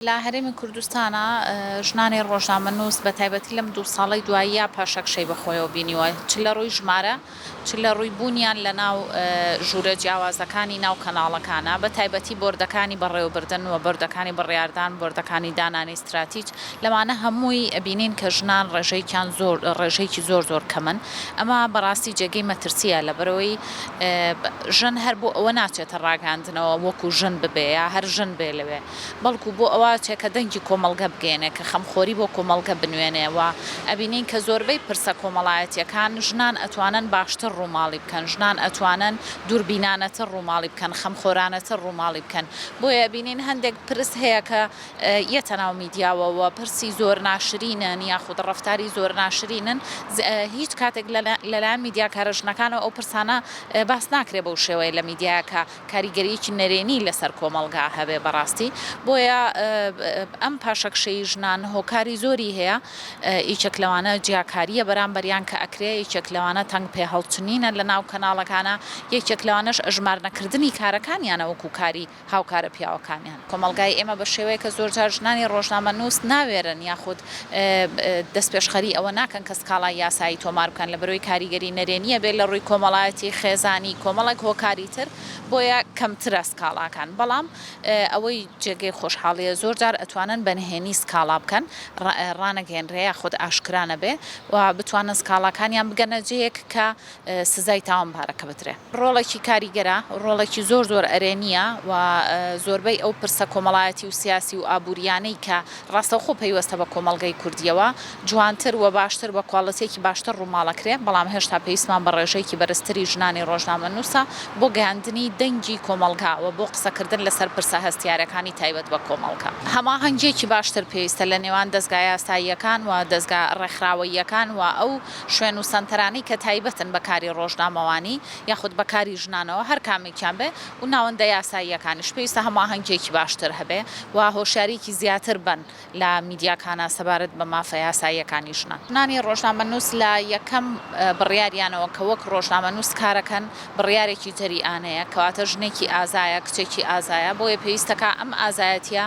لە هەرێمی کوردستانا ژنانی ڕۆژنامەنووس بە تایبەتی لەم دوو ساڵەی دواییە پاشەکشەی بە خۆیەوە بینیوە چ لە ڕووی ژمارە چ لە ڕووی بوونیان لە ناو ژوورە جیاوازەکانی ناو کەناڵەکانا بە تایبەتی بۆردەکانی بەڕێوەبردن و بۆردەکانی بڕیاردان بۆردەکانی دانانی ستراتیج لەوانە هەمووی ئەبینین کە ژنان ڕێژەیکیان زۆر ڕێژەیکی زۆر زۆر کەمن ئەمە بە ڕاستی جێگەی مەترسیە لەبەرئەوەی ژن هەر بۆ ئەوە ناچێتە ڕاگەیاندنەوە وەکوو ژن ببێ یا هەر ژن بێ لەوێ. بەڵکو بۆ ئەوە ئەچێ کە دەنگی کۆمەڵگە بگەیەنێ، کە خەمخۆری بۆ کۆمەڵگە بنوێنێ و ئەبینین کە زۆربەی پرسە کۆمەڵایەتییەکان ژنان ئەتوانن باشتر ڕووماڵی بکەن، ژنان ئەتوانن دووربینانەتر ڕووماڵی بکەن، خەمخۆرانەتر ڕووماڵی بکەن. بۆیە ئەبینین هەندێک پرس هەیە کە یەتە ناو میدیاوە و پرسی زۆر ناشرینن یاخود ڕەفتاری زۆر ناشرینن، هیچ کاتێک لە لایەن میدیاکارە ژنەکانەوە ئەو پرسانە باس ناکرێ بەو شێوەیە لە میدیاکە. کاریگەرییەکی نەرێنی لەسەر کۆمەڵگا هەبێ بەڕاستی، بۆیە ئەم پاشەکشەی ژنان هۆکاری زۆری هەیە، یەکێک لەوانە جیاکارییە بەرامبەریان کە ئەکرێ، یەکێک لەوانە تەنگ پێهەڵچنینە لەناو کەناڵەکانە، یەکێک لەوانەش ئەژمارنەکردنی کارەکانیانە وەکوو کاری هاوکارە پیاوەکانیان. کۆمەڵگای ئێمە بە شێوەیەکە زۆرجار ژنانی ڕۆژنامەنووس ناوێرن یاخود دەستپێشخەریی ئەوە ناکەن کە سکاڵای یاسایی تۆمار بکەن لەبەرئەوەی کاریگەری نەرێنییە بێت لەڕووی کۆمەڵایەتی، خێزانی، کۆمەڵێک هۆکاری تر بۆیە کەمترە سکاڵاکان بەڵام ئەوەی جێگەی خۆشحاڵییە زۆرجار ئەتوانن بە نهێنی سکاڵا بکەن ڕانەگەیەنرێ یاخود ئاشکرا نەبێ و بتوانن سکاڵاکانیان بگەنە جێیەک کە سزای تاوان بارەکە بدرێ. ڕۆڵێکی کاریگەرە، ڕۆڵێکی زۆر زۆر ئەرێنییە و زۆربەی ئەو پرسە کۆمەڵایەتی و سیاسی و ئابوورییانەی کە ڕاستەوخۆ پەیوەستە بە کۆمەڵگەی کوردییەوە جوانتر و باشتر بە کواڵیتییەکی باشتر ڕووماڵەکرێ، بەڵام هێشتا پێویستمان بە ڕێژەیەکی بەرزتری ژنانی ڕۆژنامەنووسە بۆ گەیاندنی دەنگی کۆمەڵگا و بۆ قسەکردن لەسەر پرسە هەستیارەکانی تایبەت بە کۆمەڵگە. هەماهەنگییەکی باشتر پێویستە لە نێوان دەزگا یاساییەکان و دەزگا ڕێکخراوەییەکان و ئەو. شوێن و سەنتەرانی کە تایبەتن بە کاری ڕۆژنامەوانی یاخود بە کاری ژنانەوە هەر کامێکیان بێ و ناوەندە یاساییەکانیش پێویستە هەماهەنگییەکی باشتر هەبێ و هۆشیاریی زیاتر بەن لە میدیاکانا سەبارەت بە مافە یاساییەکانی ژنان. ژنانی ڕۆژنامەنووس لە یەکەم بڕیاریانەوە کە وەک ڕۆژنامەنووس کارەکەن بڕیارێکی جەریئانەیە کەواتە ژنێکی ئازایە کچێکی ئازایە بۆیە پێویستەکا ئەم ئازایەتییە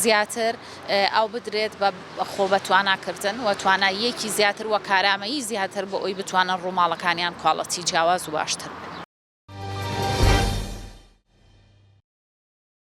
زیاتر ئاو بدرێت بە خۆ بە توانا کردن و توانا یەکی زیاتر و کارامەیی زیاتر بۆ ئەوی بتوانن ڕووماڵەکانیان کواڵەتی جیاواز و باشتر بن.